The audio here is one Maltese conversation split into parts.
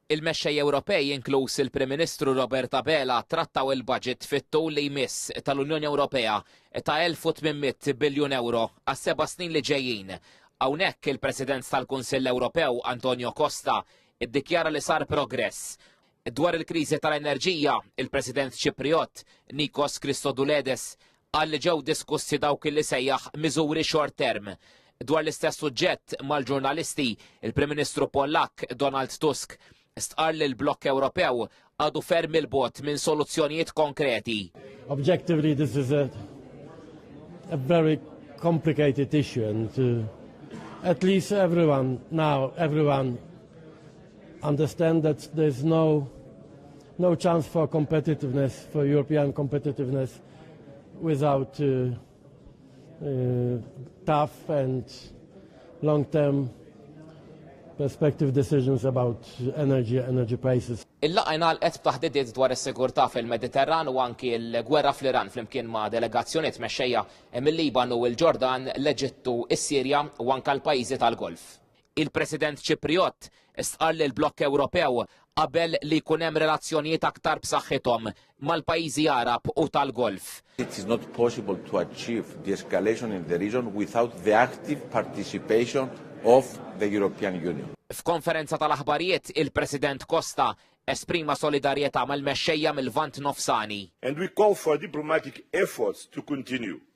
Il-mexxejja Ewropej, inkluż il-Prim Ministru Robert Abela, trattaw il-budget fit-tul li jmiss tal-Unjoni Ewropea ta' 1,800 biljun ewro għas-seba' snin li ġejjin. Hawnhekk il-President tal-Kunsill Ewropew, Antonio Costa, iddikjara li sar progress. Dwar il-kriżi tal-enerġija, il-President Ċiprijott, Nikos Christodouledes, Qal li ġew diskussi dawk li sejjaħ miżuri short term. Dwar l-istess suġġett mal-ġurnalisti, il-Prim Ministru Pollakk, Donald Tusk, stqarr li l-blokk Ewropew għadu ferm 'il bogħod minn soluzzjonijiet konkreti. Objectively this is a, a very complicated issue and to uh, at least everyone now everyone understand that there's no no chance for competitiveness for European competitiveness without uh, uh, tough and long-term perspective decisions about energy, energy prices. Il-laqa jnalqet b'taħdidiet dwar is-sigurtà fil-Mediterran u anki l-gwerra fl-Iran flimkien ma' delegazzjonijiet mexxejja mill-Liban u l-Ġordan, l-Eġittu, is-Sirja u anke l-pajjiżi tal-Golf. Il-President Ċiprijott stqarr li l-blokk Ewropew qabel li jkun hemm relazzjonijiet aktar b'saħħithom mal-pajjiżi Għarab u tal-Golf. It is not possible to achieve de-escalation in the region without the active participation of the European Union. F'konferenza tal-aħbarijiet, il-President Costa esprima solidarjetà mal-mexxejja mill-Lvant Nofsani. And we call for diplomatic efforts to continue.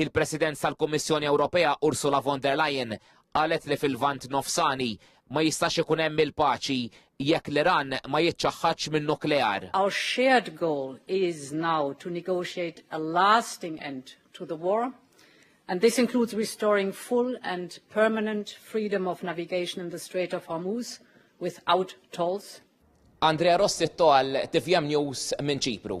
Il-President tal-Kummissjoni Ewropea Ursula von der Leyen qalet li fil-Lvant Nofsani ma jistax ikun hemm il-paċi jekk l-Iran ma jiċċaħħadx min-nuklear. Our shared goal is now to negotiate a lasting end to the war and this includes restoring full and permanent freedom of navigation in the Strait of Hormuz without tolls. Andrea Rossitto għal TVM News minn Ċipru.